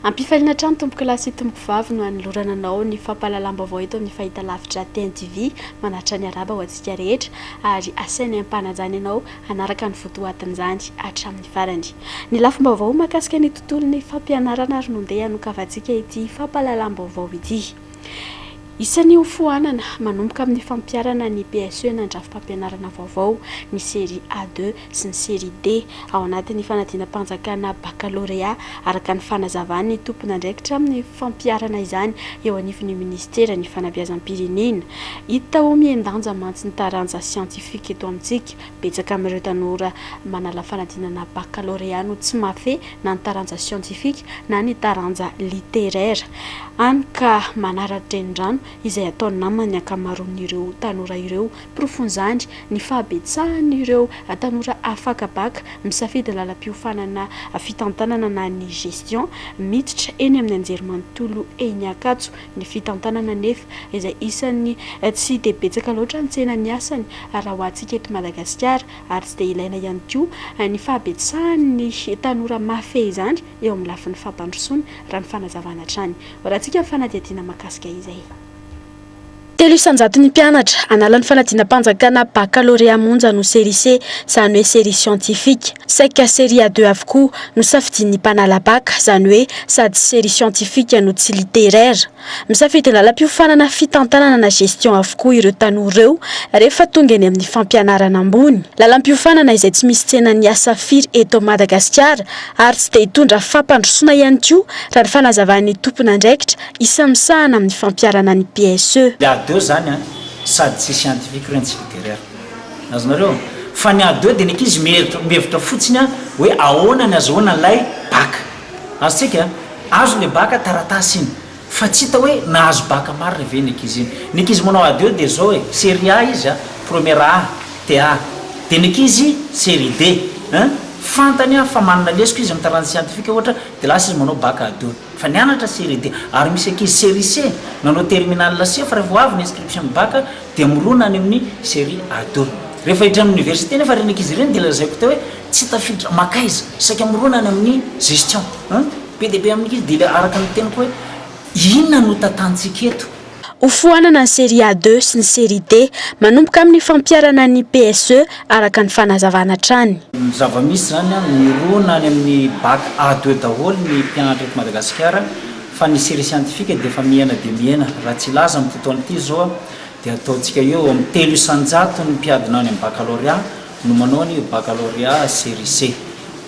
Ampifaliana hatrany tompokolahy sy tompokovavy no hanolorana anao ny fampahalalam-baovao eto amin'ny fahitalavitra TNTV manatitra ny araba ho antsika rehetra ary asainay ampanajana ianao hanaraka ny votoatin'izany hatramin'ny farany ny lafim-baovao mahakasika ny tontolon'ny fampianarana ary nondeha hanokavantsika ity fampahalalam-baovao ity. Isan'ny hofoanana manomboka amin'ny fampiharana ny PSE na Andrafi-pampianarana vaovao ny Série A deux sy ny Série D ao anatin'ny fanadinam-panjakana Bakalôrea, araka ny fanazavan'ny tompon'andraikitra amin'ny fampiharana izany eo anivon'ny Minisiteran'ny Fanabeazam-pirenena. Hita ho mihen-danja mantsy ny taranja siantifika eto amintsika. Betsaka amin'ireo tanora manala fanadinana bakalorea no tsy mahafehy na ny taranja siantifika na ny taranja literera, hany ka manara-drenirano izay ataon'ny naman'ny ankamaroan'ireo tanora ireo. Porofon'izany ny fahabetsahan'ireo tanora afaka baka misafidy ny lalam-piofanana fitantanana na ny gestion miditra eny amin'ny anjerimanontolo eny Ankatso. ny fitantanana anefa izay isan'ny tsy dia betsaka loatra ny tsena ny asany raha ho antsika eto Madagasikara ary tsy dia ilaina ihany koa ny fahabetsahan'ny tanora mahafehy izany eo amin'ny lafiny fampandrosoana raha ny fanazavana hatrany horahantsika ny fanadihadiana mahakasika izay. Telo isan-jato ny mpianatra hanala ny fanadinam-panjakana bakalorea monja no serise, izany hoe série scientifique. Saika série à deux avokoa no safidian'ny mpanala bac, izany hoe sady série scientifique no tsy littéraire. Misafidy lalam-piofanana fitantanana na gestion avokoa ireo tanora ireo rehefa tonga eny amin'ny fampianarana ambony. Lalam-piofanana izay tsy misy tsenan'ny asa firy eto Madagasikara ary tsy dia hitondra fampandrosoana ihany koa raha ny fanazavan'ny tompon'andraikitra isan'ny misahana amin'ny fampiharana ny PSE. Dia ady eo izany an! Sady tsy scientifique re ny tsy littéraire. Azonareo? Fa ny ado dia ny ankizy mihevitra mihevitra fotsiny hoe ahoana ny azahoana ilay bac. Azontsika? Azo ilay bac, taratasy iny. Fa tsy hita hoe nahazo bac marina ve iny ankizy iny. Ny ankizy manao ado dia izao e, série A izy an, première A, TA. Dia ny ankizy série D an, fantany an fa manana lesoka izy amin'ny taranja siantifika ohatra dia lasa izy manao bac ado. Fa nianatra série D. Ary misy ankizy série C, nanao terminale C fa rehefa ho avy ny inscription ny bac, dia mirona any amin'ny Serie A deux. Rehefa hiditra ny Université nefa ireny ankizy ireny dia lazaiko teo hoe tsy tafiditra, makaiza, saika mirona any amin'ny Gestion. An! Be dia be amin'ny ankizy dia ilay araka ny teniko hoe inona no tantantsika eto? Hofoanana ny Serie A deux sy ny Serie D manomboka amin'ny fampiharana ny PSE araka ny fanazavana hatrany. Ny zava-misy izany an, mirona any amin'ny Bac A deux daholo ny mpianatra eto Madagasikara. Fa ny serie scientifique dia efa mihena dia mihena, raha tsy hilaza amin'ity taona ity izao dia ataontsika eo amin'ny telo isan-jaton'ny mpiadina any amin'ny bakalôrea no manao ny bakalôrea serie C.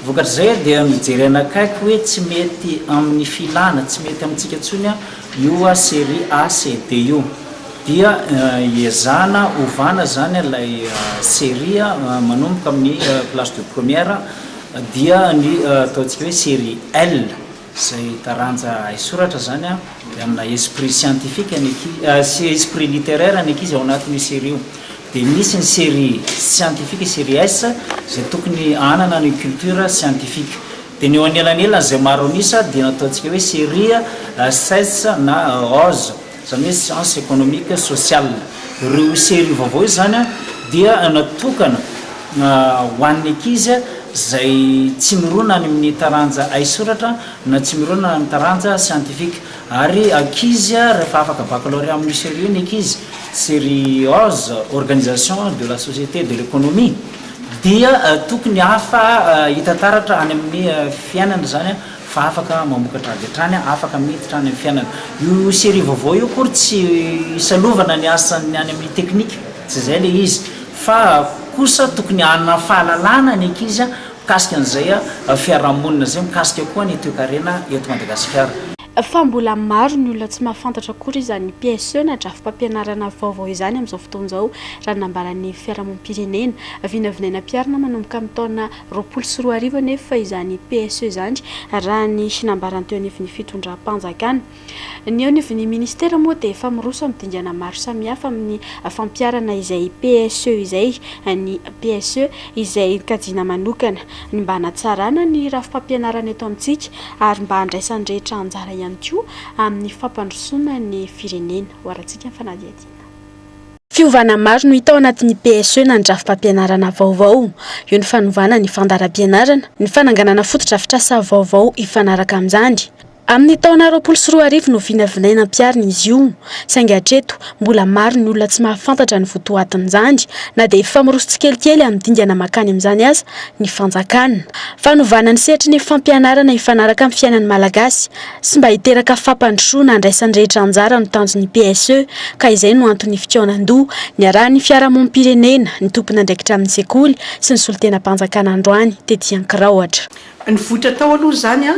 Vokatr'izay dia nojerena akaiky hoe tsy mety amin'ny filana, tsy mety amintsika intsony io serie A, C, D io. Dia iezahana ovana izany ilay serie manomboka amin'ny classe de première dia ny ataontsika hoe serie L Izay taranja haisoratra izany dia amina esprit scientifique ny ankizy, esprit littéraire ny ankizy ao anatin'io série io. Dia misy ny série scientifique, série S, izay tokony hanana ny culture scientifique. Dia ny eo anelanelany izay maro an'isa dia ny ataontsika hoe série SS na rose. izany hoe science économique sociale. Ireo serie vaovao izany dia natokana ho an'ny ankizy izay tsy mirona any amin'ny taranja haisoratra na tsy mirona amin'ny taranja scientifique. Ary ankizy rehefa afaka baccalauréat amin'io serie io ny ankizy, serie oz, organisation de la société et de l'économie, dia tokony hafa hita taratra any amin'ny fiainana izany. fa afaka mamokatra avy hatrany, afaka miditra any amin'ny fiainana. Io serie vaovao io akory tsy isalovana ny asan'ny any amin'ny teknika, tsy izay ilay izy, fa kosa tokony hanana fahalalana ny ankizy mikasika an'izay fiarahamonina izay, mikasika koa ny toekarena eto Madagasikara. Fa mbola maro ny olona tsy mahafantatra akory izany PSE na drafi-pampianarana vaovao izany amin'izao fotoana izao, raha ny nambaran'ny Fiarahamonim-pirenena. Vinavinaina am-piharina manomboka amin'ny taona roapolo sy roa arivo anefa izany PSE izany, raha ny nambarany teo anivon'ny fitondram-panjakana. Ny eo anivon'ny minisitera moa dia efa miroso amin'ny dingana maro samihafa amin'ny fampiharana izay PSE izay, ny PSE izay kajiana manokana ny mba hanatsarana ny rafi-pampianarana eto amintsika ary mba handraisan'ny rehetra anjara ihany koa amin'ny fampandrosoana ny firenena, hoarantsika ny fanadihadiana. Fiovana maro no hita ao anatin'ny PSE na ny drafi-pampianarana vaovao. Eo ny fanovana ny fandaharam-pianarana, ny fananganana fotodrafitrasa vaovao hifanaraka amin'izany. Amin'ny taona roapolo sy roa arivo no vinavinaina hampiharina izy io, saingy hatreto, mbola maro ny olona tsy mahafantatra ny votoatin'izany, na dia efa miroso tsikelikely amin'ny dingana mankany amin'izany aza ny fanjakana. Fanovana ny sehatry ny fampianarana hifanaraka amin'ny fiainan'ny Malagasy. sy mba hiteraka fampandrosoana handraisan'ny rehetra anjara no tanjon'ny PSE ka izay no anton'ny fikaonandoha niarahan'ny fiarahamonim-pirenena, ny tompon'andraikitra amin'ny sekoly sy ny solontenam-panjakana androany tety Ankiraohatra. Nivoitra tao aloha izany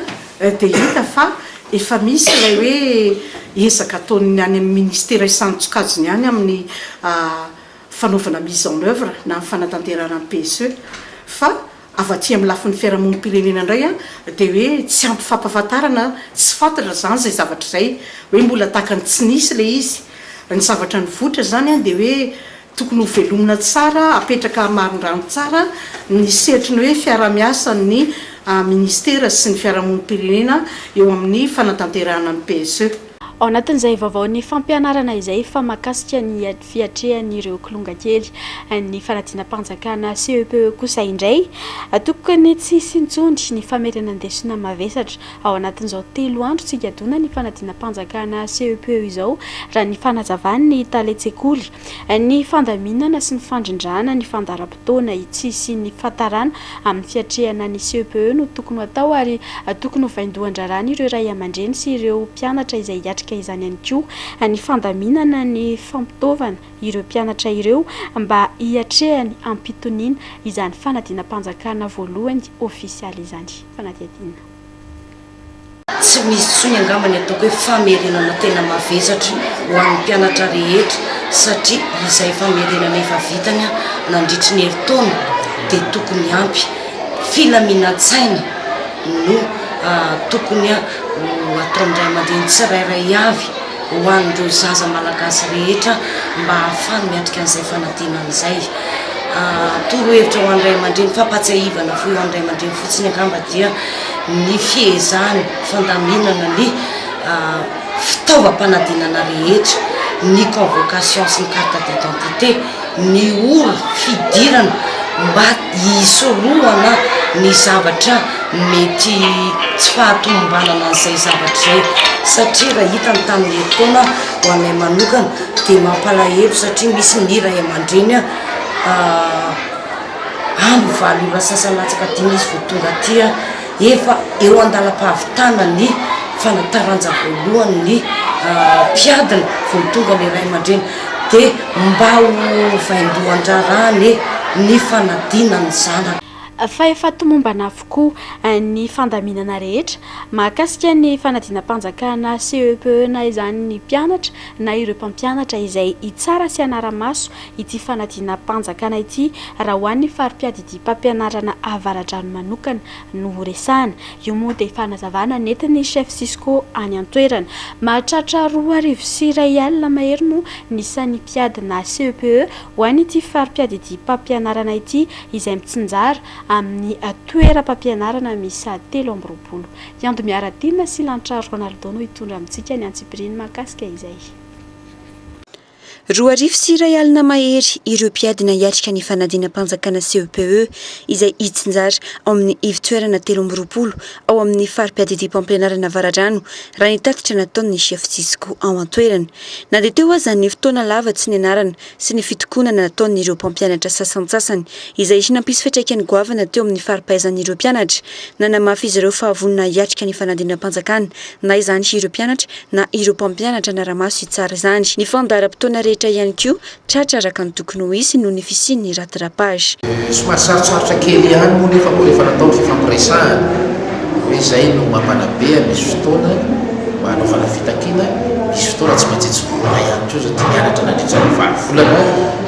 dia hita fa efa misy ilay hoe ezaka ataon'ny any amin'ny ministera isan-tsokajiny any amin'ny fanaovana mise en oeuvre na ny fanatanterahana ny PSE fa Avy aty amin'ny lafiny fiarahamonim-pirenena indray dia hoe tsy ampy fampahafantarana, tsy fantatra izany izay zavatra izay, hoe mbola tahaka ny tsy nisy ilay izy. Ny zavatra nivoitra izany dia hoe tokony ho velomina tsara, apetraka hamarin-drano tsara ny sehatry ny hoe fiaraha-miasan'ny minisitera sy ny fiarahamonim-pirenena eo amin'ny fanatanterahana ny PSE. Ao anatin'izay vaovaon'ny fampianarana izay fa mahakasika ny. fiatrehan'ireo kilonga kely ny fanadinam-panjakana CEPE kosa indray. Tokoka ny tsy hisy intsony ny famerenan-desona mavesatra ao anatin'izao telo andro tsy higadona ny fanadinam-panjakana CEPE izao, raha ny fanazavan'ny talen-tsekoly. Ny fandaminana sy ny fandrindrana ny fandaharam-potoana. fotoana itsy hisian'ny fantarana amin'ny fiatrehana ny CEPE no tokony ho atao ary tokony ho vaindohan-draharahan' ireo ray aman-dreny sy ireo mpianatra izay hiatrika izany ihany koa ny fandaminana ny fampitaovana ireo mpianatra ireo mba hiatrehany am-pitoniana izany fanadinam-panjakana voalohany ofisialy izany. Fanadihadiana. Tsy misy intsony angamba ny ataoko hoe famerenana tena mavesatra ho an'ny mpianatra rehetra satria izay famerenana efa vitany nandritry ny herintaona dia tokony ampy. Filaminan-tsaina no tokony ho ataon'ny ray aman-dreny tsirairay avy ho an'ireo zaza malagasy rehetra mba hahafany miatrika an'izay fanadinana izay. Torohevitra ho an'ny ray aman-dreny, fampahatsiahivana fohy ho an'ny ray aman-dreny fotsiny angamba dia ny fihezany fandaminana ny fitaovam-panadinana rehetra, ny convocation sy ny carte d'identité, ny ora fidirana mba hisorohana ny zavatra mety tsy fahatomombanana an'izay zavatra izay satria raha hita ny tamin'ny herintaona ho anay manokana dia mampalahelo satria misy ny ray aman-dreny andro valo ora sasa latsaka dimy izy vao tonga aty an, efa eo andalam-pahavitana ny fanataranja voalohany ny mpiadina vao tonga ny ray aman-dreny dia mba ho vaindohan-draharaha anie ny fanadinany ny zanany. Fa efa tomombana avokoa ny fandaminana rehetra mahakasika ny fanadinam-panjakana CEPE na izany ny mpianatra na ireo mpampianatra izay hitsara sy hanara-maso ity fanadinam-panjakana ity raha ho an'ny fari-piadidiam-pampianarana Avaradrano manokana no horesahana. Io moa dia fanazavana nentin'ny chef Cisco any an-toerana. Mahatratra roa arivo sy iray alina mahery no ny isan'ny mpiadina CEPE ho an'ity fari-piadidiam-pampianarana ity izay mitsinjara amin'ny toeram-pampianarana miisa telo amby roapolo. I Ando Miaradinina sy Lanitra Ronaldo no hitondra amintsika ny antsipiriany mahakasika izay. Roa arivo sy iray alina mahery ireo mpiadina hiatrika ny fanadinam-panjakana CEPE izay hitsinjara ao amin'ny ivo-toerana telo amby roapolo ao amin'ny fari-piadidiam-pampianarana Avaradrano raha ny tatitra nataon'ny chef Cisco ao an-toerana. Na dia teo aza ny fotoana lava tsy nianarana sy ny fitokonana nataon'ireo mpampianatra sasantsasany izay nampisy fiantraikany goavana teo amin'ny fari-pahaizan'ireo mpianatra, nanamafy izy ireo fa vonona hiatrika ny fanadinam-panjakana na izany ireo mpianatra na ireo mpampianatra hanara-maso hitsara izany. Ny fandaharam-potoana rehetra ihany koa tratra araka ny tokony ho hisy noho ny fisian'ny rattrapage. Somary sarotsarotra kely ihany moa nefa vao efa natao ny fifampiresahana hoe izay no mampanabe an, misy fotoana mba hanaovana fitakiana, misy fotoana tsy maintsy hijoroana ihany koa satria nianatra nandritra ny valo volana,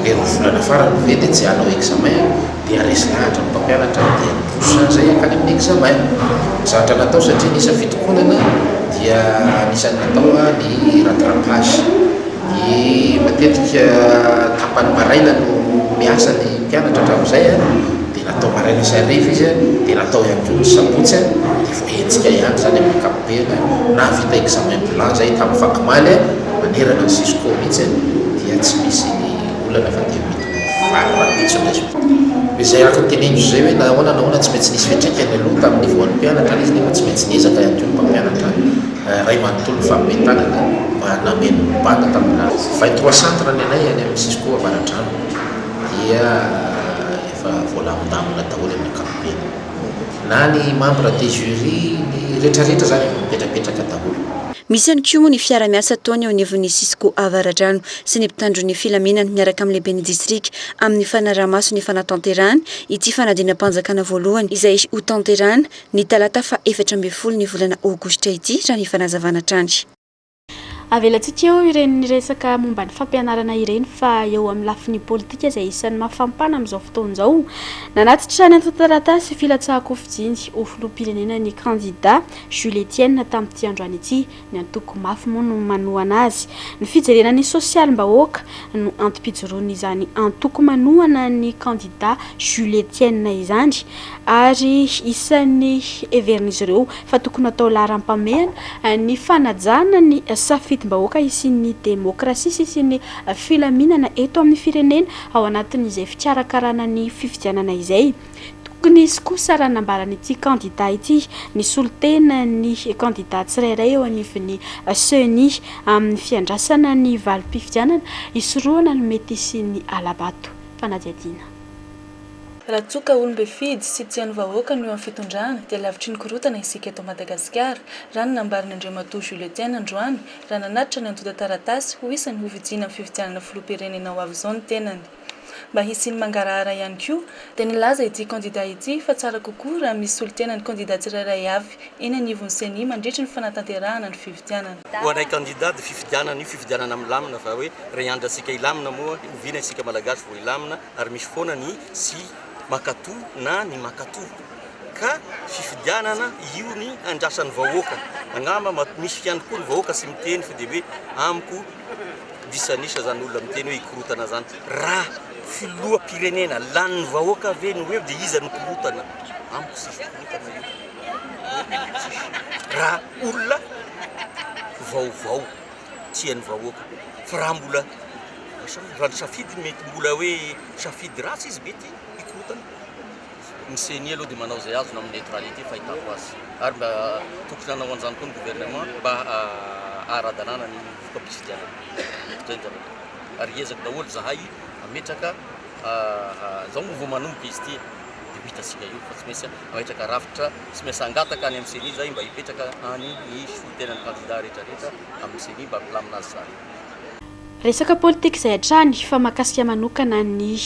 le roa volana farany ve dia tsy hanao examen? dia resy lahatra ny mpampianatra dia trosa izay hankany amin'ny examen. Zatra natao satria ny isa fitokonana dia anisan'ny natao ny rattrapage. Ny matetika tapany maraina no miasa ny mpianatra hatramin'izay dia natao maraina sy hariva izy dia natao ihany koa ny sabotsy dia vao hetsika ihany izany amin'ny ankapobeny. Nahavita examen bilan izahay tamin'ny fakomaly manerana ny cisco mihitsy dia tsy misy olana fa dia miditra. valo rahampitso indray zao. Izay araka ny teneniko izay hoe na ahoana na ahoana tsy maintsy nisy fiantraikany aloha tamin'ny nivoahan'ny mpianatra ilay izy nefa tsy maintsy niezaka ihany koa ny mpampianatra iray manontolo nifampime tanana mba hanameno ny banda tamin'ny lala. Vingt trois centre ny anay any amin'ny cisco Avaradrano dia efa voalamindamina daholo amin'ny ankapobeny. Na ny membres des jurys, ny retraretra izany efa mipetrapetraka daholo. Misy ihany koa moa ny fiara-miasa ataony eo anivon'ny cisco Avaradrano. sy ny mpitandro ny filaminana miaraka amin'ny lehiben'ny distrika amin'ny fanaraha-maso ny fanatanterahana ity fanadinam-panjakana voalohany izay hotanterahina ny talata faha efatra ambin'ny folo ny volana aogositra ity, raha ny fanazavana hatrany. Avelantsika eo ireny resaka momba ny fampianarana ireny fa eo amin'ny lafiny politika izay isan'ny mafampana amin'izao fotoana izao. Nanatitra ny antontan-taratasy filatsahan-kofijiny ho filoham-pirenena ny kandida Jules Etienne tamin'ity androany ity. Ny antoko mafy moa no manohana azy. Ny fijerena ny sosialim-bahoaka no antom-pijoroan'izany antoko manohana ny kandida Jules Etienne izany ary isan'ny heverin'izy ireo fa tokony hatao laharam-pamehana ny fanajana ny safidim-bahoaka hisian'ny demokrasia sy hisian'ny filaminana eto amin'ny firenena ao anatin'izay fikarakarana ny fifidianana izay. Tokony hisy kosa raha nambaran'ity kandida ity ny solontenan'ny kandida tsirairay eo anivon'ny Ceni amin'ny fiandrasana ny valim-pifidianana hisorohana ny mety hisian'ny hala-bato. Fanadihadiana. Raha toa ka olom-befidy sy tsy hain'ny vahoaka no eo amin'ny fitondrana dia lavitry ny korontana isika eto Madagasikara, raha ny nambaran' Andriamatoa Jules Etienne androany raha nanatitra ny antontan-taratasy ho isan'ny hofidiana amin'ny fifidianana filoham-pirenena ho avy izao ny tenany. mba hisian'ny mangarahara ihany koa, dia nilaza ity kandida ity fa tsara kokoa raha misy solontena ny kandida tsirairay avy eny anivon'ny Ceni mandritry ny fanatanterahana ny fifidianana. Ho anay kandida dia fifidianana io fifidianana milamina fa hoe raha iandratsika hilamina moa oviana isika malagasy vao hilamina ary misy foana ny tsy mankatò na ny mankatò ka fifidianana io ny andrasan'ny vahoaka angamba misy ihany koa ny vahoaka tsy miteny fa dia hoe amiko Disan'isa zany olona miteny hoe hikorotana zany. Raha filoham-pirenena lanin'ny vahoaka ve no eo dia iza no korotana? Amiko tsisy fikorotana io. Raha olona vaovao tian'ny vahoaka. Fa raha mbola raha ny safidy mety mbola hoe safidy ratsy izy mety hikorotana. Ny ceni aloha dia manao izay azony amin'ny neutralite fahitako azy. Ary mba tokony hanao an'izany koa ny gouvernement mba haha-ara-dalàna ny fampitsidihanana. Izay ny zavatra. Ary hiezaka daholo izahay hametraka izao vao manomboka izy ity dia ho hitantsika eo fa tsy maintsy mametraka rafitra, tsy maintsy hangataka any amin'ny ceni izahay mba hipetraka any ny solontenan'ny kandida rehetrarehetra amin'ny ceni mba hampilamina azy izany. Resaka politika izay hatrany fa mahakasika manokana ny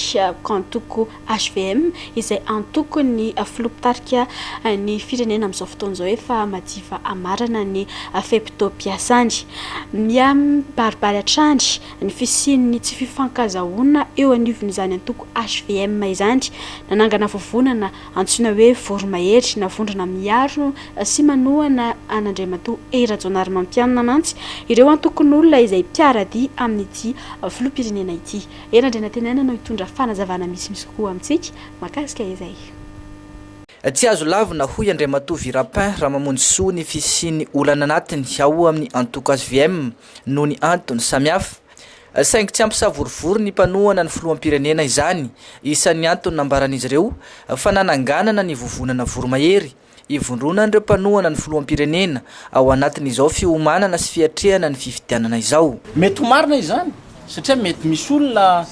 antoko hvm izay antokon'ny filoha mpitarika ny firenena amin'izao fotoana izao efa madiva hamarana ny fe-potoam-piasany. Miha-mibaribary hatrany ny fisian'ny tsy fifankazahoana eo anivon'izany antoko hvm izany. Nanangana vovonana Antsoina hoe voromahery na vondrona miaro sy manohana an'Andriamatoa Hery Rajaonarimampianina mantsy ireo antokon'olona izay mpiara-dia amin'ity filoham-pirenena ity. Hery Andrianantenaina no hitondra fanazavana misimisy kokoa amintsika mahakasika izay. Tsy azo lavina hoy Andriamatoa Virapin Ramamonjisoa ny fisian'ny olana anatiny ao amin'ny antoko hvm noho ny antony samihafa. Saingy tsy hampisavorovoro ny mpanohana ny filoham-pirenena izany. Isan'ny antony nambaran'izy ireo fa nananganana ny vovonana voromahery ivondronan'ireo mpanohana ny filoham-pirenena ao anatin'izao fiomanana sy fiatrehana ny fifidianana izao. Mety ho marina izany satria mety misy olona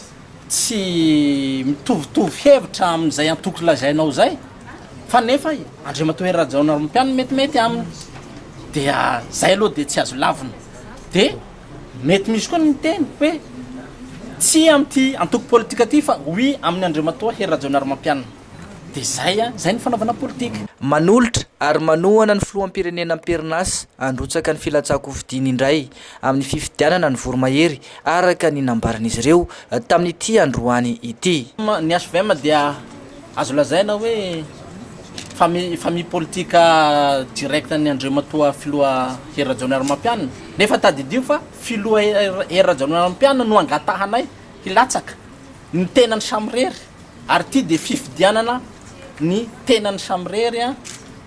tsy mitovitovy hevitra amin'izay antoko lazainao izay fa nefa i Andriamatoa Hery Rajaonarimampianina metimety aminy dia izay aloha dia tsy azo lavina dia Mety misy koa ny miteny hoe tsia amin'ity antoko politika ity fa oui amin'i Andriamatoa Hery Rajaonarimampianina. Dia zay an! Zay ny fanaovana politika. Manolotra ary manohana ny Filoham-pirenena am-perinasa handrotsaka ny filatsahan-kofidiny indray amin'ny fifidianana ny voromahery araka ny nambaran'izy ireo tamin'ity androany ity. Ny HVM dia Azo lazaina hoe famille famille politique direct an'i Andriamatoa Filoha Hery Rajaonarimampianina. Nefa tadidio fa Filoha Hery Rajaonarimampianina no angatahanay hilatsaka ny tenany samirery ary ity dia fifidianana ny tenany samirery an!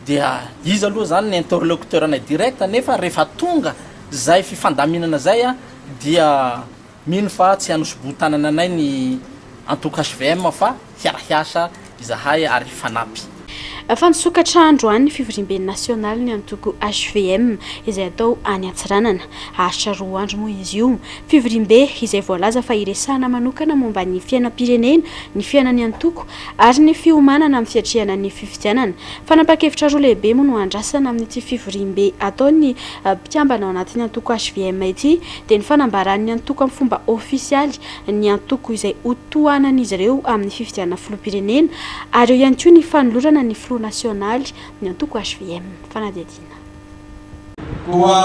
dia iza aloha izany ny interlocuteur-nay direct nefa rehefa tonga izay fifandaminana izay dia Mino fa tsy hanosoboho-tanana anay ny antoko hvm fa hiara-hiasa izahay ary hifanampy. Efa nisokatra androany ny fivoriamben'ny nasionaly ny antoko hvm izay hatao any Antsiranana. Haharitra roa andro moa izy io. Fivoriambe izay voalaza fa hiresahana manokana momba ny fiainam-pirenena, ny fiainan'ny antoko ary ny fiomanana amin'ny fiatrehana ny fifidianana. Fanapan-kevitra roa lehibe moa no andrasana amin'ity fivoriambe ataon'ny mpikambana ao anatin'ny antoko hvm ity, dia ny fanambaran'ny antoko amin'ny fomba ofisialy ny antoko izay hotohanan'izy ireo amin'ny fifidianana filoham-pirenena ary eo ihany koa ny fanolorana ny filoha nasionaly ny antoko hvm. Fanadihadiana. Koa,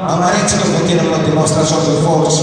hamarintsika vao tena manao démonstration de force.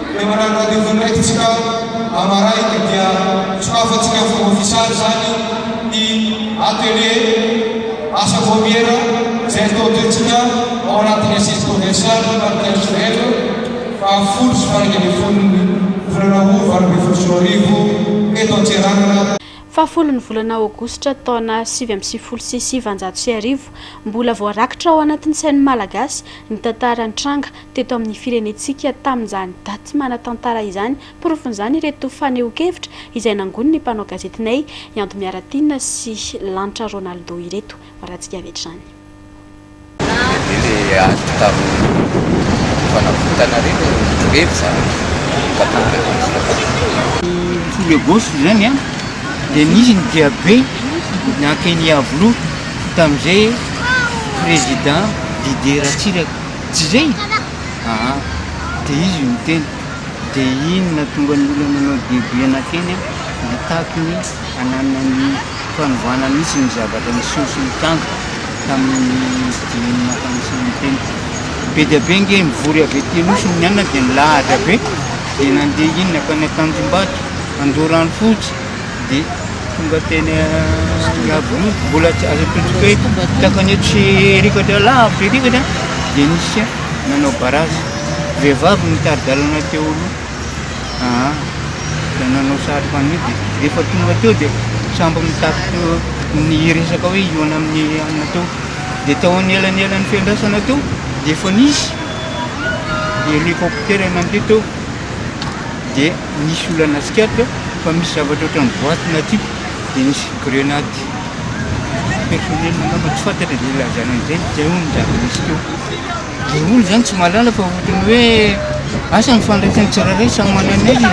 Ilay maran'ny radio Voninahy ity isika maraina dia sokafantsika ho fomba fiasana izany ny atelier asa vaomiera izay atao toetsika ao anatin'ny Assise provinciale Marotiazo Joël fahafolo sy faha enina ambin'ny folon'ny volana Aout valo ambin'ny folo sy roa arivo eto Antsiranana. Fahafolon'ny volana Aogositra taona sivy amby sivifolo sy sivanjato sy arivo. Mbola voarakitra ao anatin'ny sain'ny Malagasy ny tantara nitranga teto amin'ny firenentsika tamin'izany daty manan-tantara izany. Porofon'izany ireto fanehoan-kevitra izay nangonin'ny mpanao gazetinay, i Ando Miaratiana sy Lanitra Ronaldo ireto. Varatsika avy hatrany. Dia le ady tamin'ny fanavotana re no revy za mba tonga eto amintsika tato. Ny folo agosto izany an, dia nisy ny diabe nankeny Iavoloha tamin'izay Président Didier Ratsiraka. Jirey? Aa! de izy no niteny, de iny nahatonga ny olona nanao diabe nankeny an! nitaky ny hananina ny fanovana mihitsy ny zavatra niseho sy nitranga tamin'ny dieny naha-fanisan'ny teny. Be dia be ange nivory avy aty Anosy ny mianina dia nilahatra be, dia nandeha iny nankany Antanjombato, Andoharanofotsy, Dia tonga teny Iavoloha, mbola tsy azo atolotra hoe takany io tsy hirikatra lavitra hirikatra dia nisy nanao barazy. Vehivavy no nitari-dalana teo aloha. Aa, dia nanao satroka an'io dia rehefa tonga teo dia sambo mitaky teo niresaka hoe hihaona amin'ny alina teo. Dia tao anelanelan'ny fiandrasana teo dia efa nisy helikoptera nandeha teo dia. Nisy olana tsikaritra fa misy zavatra ohatran'ny boaty na tube dia nisy grenady personnel angamba tsy fantatra izay ilazana an'izay fa izay hono ny zava-nisy teo. Dia hono izany tsy mahalala fa ohatran'ny hoe asa ny fandraisany tsirairay samy manana ny azy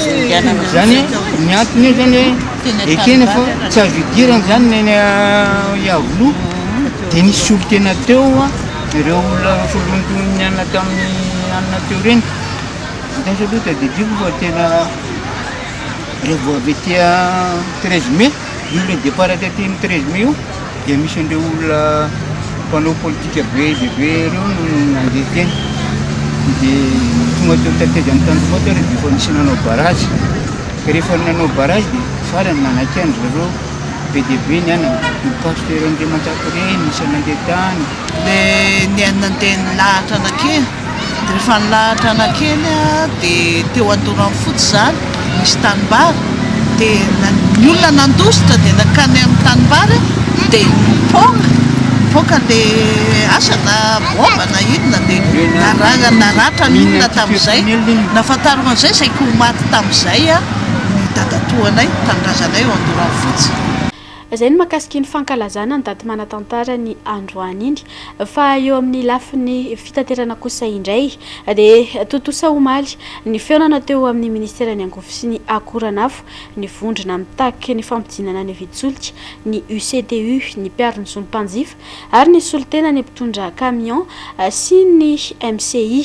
e. Izany hoe ny antony eo izany hoe ekena fa tsy azo idirana izany ny an'i Iavoloha dia nisy solontena teo. Ireo olona noforonon'ny nianona tamin'ny alina teo ireny, vokatra aloha tadidiko fa tena revo avy aty treize mai, io ilay départ aty aty amin'ny treize mai io dia misy an'ireo olona mpanao politika be dia be ireo no nandeha teny. Dia tonga teo tateza amin'ny tanjombato aho rehefa efa nisy nanao barrage. Rehefa nanao barrage dia farany nanakihany zareo. Be dia be ny anana, ny pasitera Andriamanjaka ireny no isan'ny nandeha tany. Dia nihaino-niteny nilahatra anakely, dia rehefa nilahatra anakely aho dia teo Andoranfotsy izany, nisy tanimbary, dia ny olona nandositra dia nankany amin'ny tanimbary aho dia nipoaka, nipoaka ilay asa na baomba na inona dia naratra ny olona tamin'izay, nahafantarako an'izay izay koa maty tamin'izay aho. ny dadatoanay, ny tanindrazanay ao Andoranfotsy. Izay ny mahakasika iny fankalazana ny daty manatantara ny androany iny. Fa eo amin'ny lafiny fitaterana kosa indray dia tontosa omaly ny fihaonana teo amin'ny ministeran'ny Angovo sy ny Akoranafo ny vondrona mitaky ny fampidinana ny vidin-tsolika, ny UCTU, ny mpiaro ny zon'ny mpanjifa, ary nisolo tena ny mpitondra camion sy ny MCI.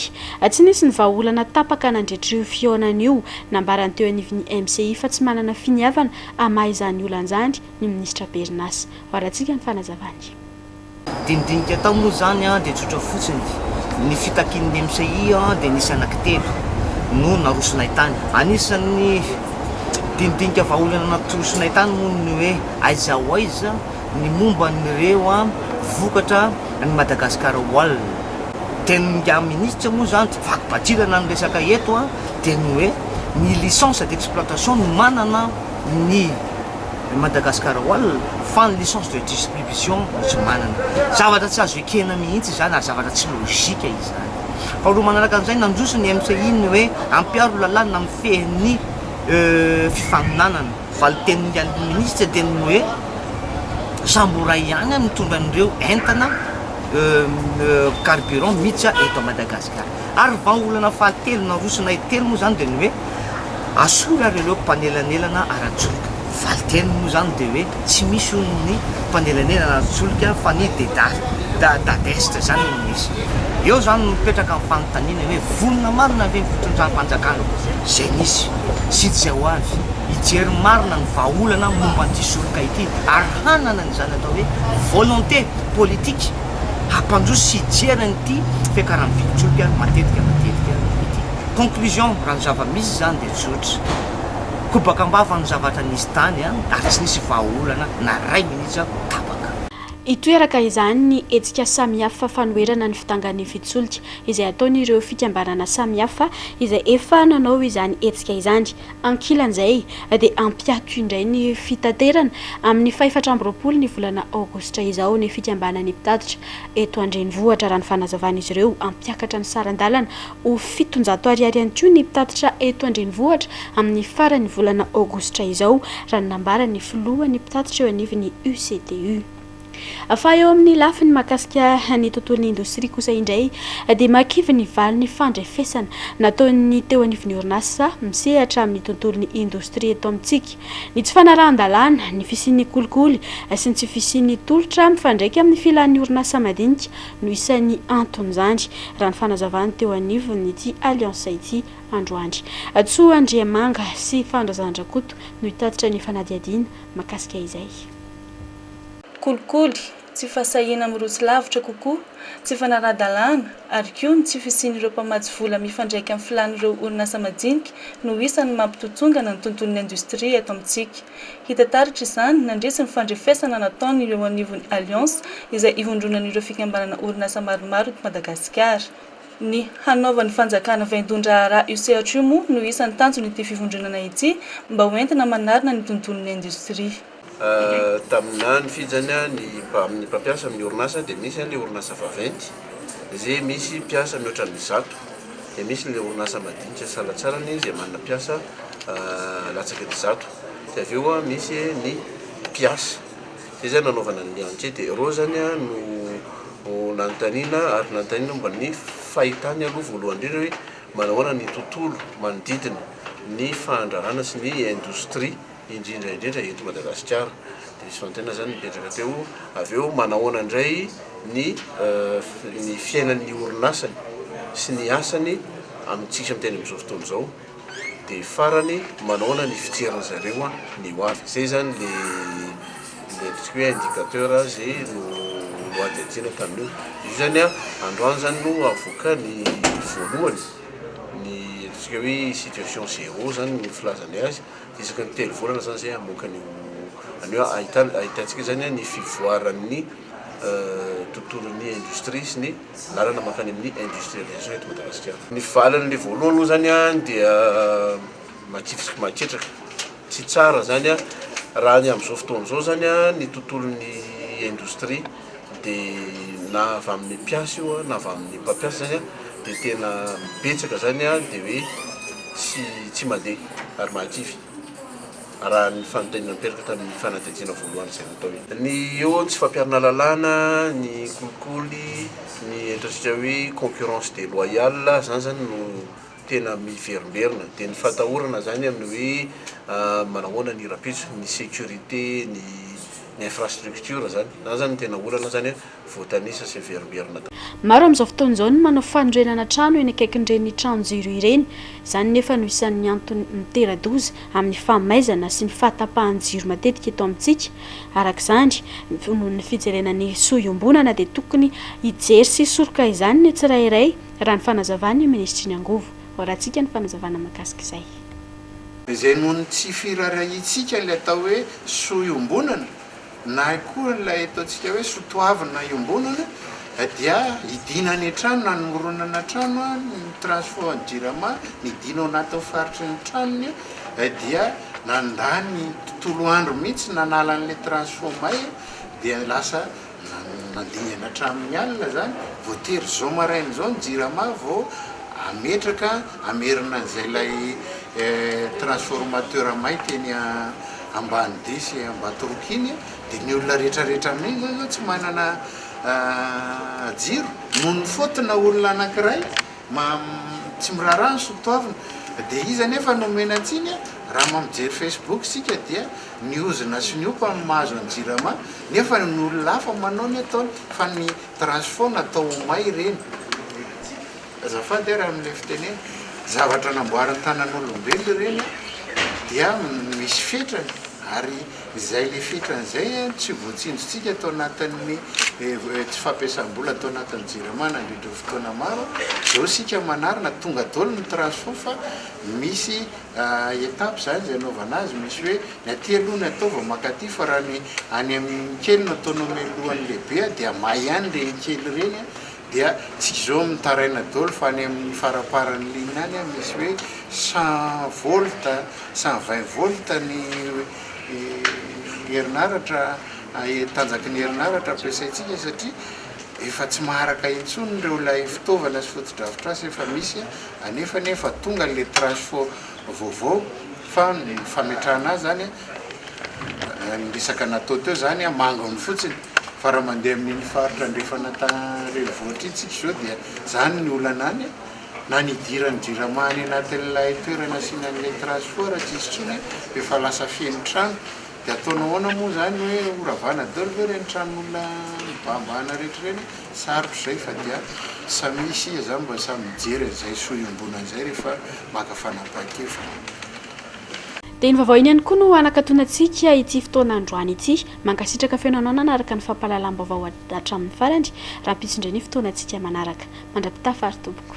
Tsy nisy ny vahaolana tapaka nandritra io fihaonana io. Nambara ny teo anivon'ny MCI fa tsy manana finiavana hamaha izany olana izany ny minisitra Berinasa. Hoarantsika ny fanazavany. Dinidinika atao moa izany dia tsotra fotsiny, ny fitakian'ny MCI dia nisy anankitelo no narosonay tany. Anisan'ny dinidinika vahaolana natorosonay tany moa ny hoe aiza ho aiza ny momba an'ireo vokatra an'i Madagasikara Wall dia ny ingahy minisitra moa izany tsy vaky bajilana ny resaka eto dia ny hoe ny licence d'exploitation no manana ny Madagasikara Wall fa ny licence de distribution no tsy manana zavatra tsy azo ekena mihintsy izany ary zavatra tsy logique izany faharoa manaraka an'izay nandroso ny MCI ny hoe ampiaro lalàna mifehy ny fifaninanana Valin-tenin'ny Minisitra mihitsy dia ny hoe samboray ihany no mitondra an'ireo entana carburant miditra eto Madagasikara. Ary vahaolana fahatelo narosonay telo moa izany dia ny hoe asolo ary ireo mpanelanelana ara-tsolika. Valin-teniny moa izany dia hoe tsy misy hono ny mpanelanelana ara-tsolika fa ny DEDAR, Dadestra izany no misy. Eo izany no mipetraka ny fanontaniana hoe vonona marina ve ny fitondram-panjakana izay nisy sy izay ho avy hijery marina ny vahaolana momba an'ity soroka ity ary hanana izany atao hoe volonté politique hampandroso sy hijery an'ity fiakaran'ny vidin-tsolika matetika matetika ity. Conclusion, raha ny zava-misy izany dia tsotra, kobaka am-bava ny zavatra nisy tany ary tsy nisy vahaolana na iray minitra tapaka. Hitoeraka izany ny hetsika samihafa fanoherana ny fidangan'ny fitsolika izay ataon'ireo fikambanana samihafa izay efa nanao izany hetsika izany. Ankilan'izay dia hampiato indray ny fitaterana amin'ny fahefatra amby roapolo ny volana aogositra izao ny fikambanan'ny mpitatitra eto an-drenivohitra raha ny fanazavan'izy ireo hampiakatra ny saran-dalana ho fitonjato ariary ihany koa ny mpitatitra eto an-drenivohitra amin'ny faran'ny volana aogositra izao, raha ny nambaran'ny filohan'ny mpitatitra eo anivon'ny UCTU. Fa eo amin'ny lafiny mahakasika ny tontolon'ny indostria kosa indray dia mahakivy ny valin'ny fandrefesana nataon'ny teo anivon'ny orinasa misehatra amin'ny tontolon'ny indostria eto amintsika ny tsy fanarahan-dalàna ny fisian'ny kolikoly sy ny tsy fisian'ny tolotra mifandraika amin'ny filan'ny orinasa madinika no isan'ny anton'izany, raha ny fanazavany teo anivon'ity Alliance ity androany. Tsoa Andriamanga sy Fandrazandrakoto no hitatitra ny fanadihadiana mahakasika izay. Kolikoly, tsy fahasahiana mirotsy lavitra kokoa, tsy fanaraha-dalàna ary koa ny tsy fisian'ireo mpamatsy vola mifandraika amin'ny filàn'ireo orinasa majinika no isan'ny mampitontongana ny tontolon'ny indostria eto amintsika. Hita taritra izany, nandritsy ny fandrefesana nataony eo anivon'ny Alliance, izay ivondronan'ireo fikambanana orinasa maromaro eto Madagasikara. Ny hanaovan'ny fanjakana vaindon-draharaha io sehatra io moa no isan'ny tanjon'ity fivondronana ity mba ho entina manarina ny tontolon'ny indostria. Tamin'izany fijany, ny mpampiasa amin'ny orinasa dia misy ilay orinasa vaventy, izay misy mpiasa mihoatra ny zato dia misy ilay orinasa madinika salatsalany izay manana mpiasa latsaka ny zato dia avy eo misy ny mpiasa, izay zany nanaovana ny ankety e, ireo zany no nanontaniana ary nanontaniana momba ny fahitany aloha voalohany indrindra hoe manao ahoana ny tontolo manodidina ny fandraharana sy ny indostria. indrindra indrindra eto Madagasikara. Dia nisy fanontaniana izany nipetraka teo, avy eo manahoana indray ny ny fiainan'ny orinasany sy ny asany amintsika miteny amin'izao fotoana izao, dia farany manahoana ny fijerin'ny zareo ny ho avy. Izay izany le le ataontsika hoe indicateur izay no nohadihadiana tamin'io. Io izany androany izany no avoaka ny voalohany ny ataontsika hoe situation zéro izany ny filazany azy. Isaky ny telo volana zany zay hamoaka an'io an'io a, ahitana ahitantsika zany a ny fivoaran'ny tontolon'ny industrie sy ny lalana mankany amin'ny industrialisation eto Madagasikara. Ny valiny le voalohany aloha zany a dia makitsiky maketraka, tsy tsara zany a raha ny am'zao fotoana zao zany a ny tontolon'ny industrie. dia na avy amin'ny mpiasa io na avy amin'ny mpampiasa izany an dia tena betsaka izany an dia hoe tsy tsy mandeha ary mahakivy raha ny fanontaniana niteraka tamin'ny fanadihadiana voalohany izay natao iny. Ny eo ny tsy fampiharana lalàna, ny kolikoly, ny ahitantsika hoe concurrence deloyale, izany izany no. tena miverimberina dia ny fatahorana zany amin'ny hoe manahoana ny rahampitso, ny sécurité, ny ny infrastructure zany, zany zany no tena olana zany a, voatanisa sy miverimberina daholo. Maro amin'izao fotoana izao ny manao fanorenana trano eny akaikin'ireny tranon-jiro ireny, izany nefa no isan'ny antony mitera-doza amin'ny fahamaizana sy ny fahatapahan'ny jiro matetika eto amintsika, araka izany, noho ny fijerena ny soa iombonana dia tokony hijery sy hisoroka izany ny tsirairay, Raha ny fanazavan'ny minisitry ny angovo. Hoarahantsika ny fanazavana mahakasika izay. Izay noho ny tsy firaharahiantsika ilay atao hoe soa iombonana na koa ilay ataontsika hoe soatoavina iombonana dia hidiana any an-trano na hanoronana trano ny Transfo any Jirama nidiana ao anatin'ny faritry ny tranony dia nandany tontolo andro mihitsy nanala an'ilay Transfo may dia lasa Nandingana hatramin'ny alina izany, voatery izao maraina izao ny Jirama vao hametraka, hamerina an'izay ilay transformateur may teny Ambanidia sy Ambatoroka iny, dia ny olona rehetrarehetra amin'iny izao izao tsy manana jiro. Noho ny faute na olona anankiray tsy miraharaha ny sotoavina, dia iza anefa no omena tsiny? Raha mijery Facebook isika dia. Ny ozona sy ny opa no mahazo an'i Jirama nefa ny olona hafa manao ny ataony fa ny trace foana atao ho may ireny. Azafady ary amin'ilay fitenena. Zavatra namboarin'ny tanan'olombelona ireny dia misy fetrany ary izay ilay fetrany izay no tsy voatsinjotsika tao anatin'ny tsy fampiasam-bola tao anatin'ny Jirama nandritra ny fotoana maro. Izao isika manarina tonga daholo ny trace foana fa misy étape izany izay anaovana azy, misy hoe ny aty aloha ny atao vao maka aty fa raha ny any amin'ny kely no ataonao mialohan'ny lehibe dia may ihany ireny kely ireny dia tsy izao mitaraina daholo fa any amin'ny faramparan'ny ligne any misy hoe cent volts, cent vingt volts ny herinaratra tanjaky ny herinaratra ampiasaintsika satria efa tsy maharaka intsony ireo ilay fitaovana sy fotodrafitrasa efa misy Anefa anie efa tonga ilay tranche fo vaovao fa ny fametrahana azy zany ny resaka natao teo zany mangony fotsiny fa raha mandeha amin'iny faritra andrefana renivohitra iny tsika izao dia zany ny olana any na ny hidiran'ny jirama any anatin'ilay toerana asiana an'ilay tranche fo raha tsy misy intsony dia efa lasa feno trano Dia ataonao ahoana moa izany hoe horavana daholo ve ireny tranon'olona mibahambahana rehetra ireny? Sarotra izay fa dia samy hisy iza izany mba samy mijery an'izay soa iombonana izay rehefa maka fanapahan-kevitra. Dia iny vaovao iny ihany koa no hanakatona antsika ity fotoana androany ity. Mankasitraka fenonao nanaraka ny fampahalalam-baovao hatramin'ny farany. Rahampitso indray ny fotoanantsika manaraka. Mandrapitafa ary tompoko.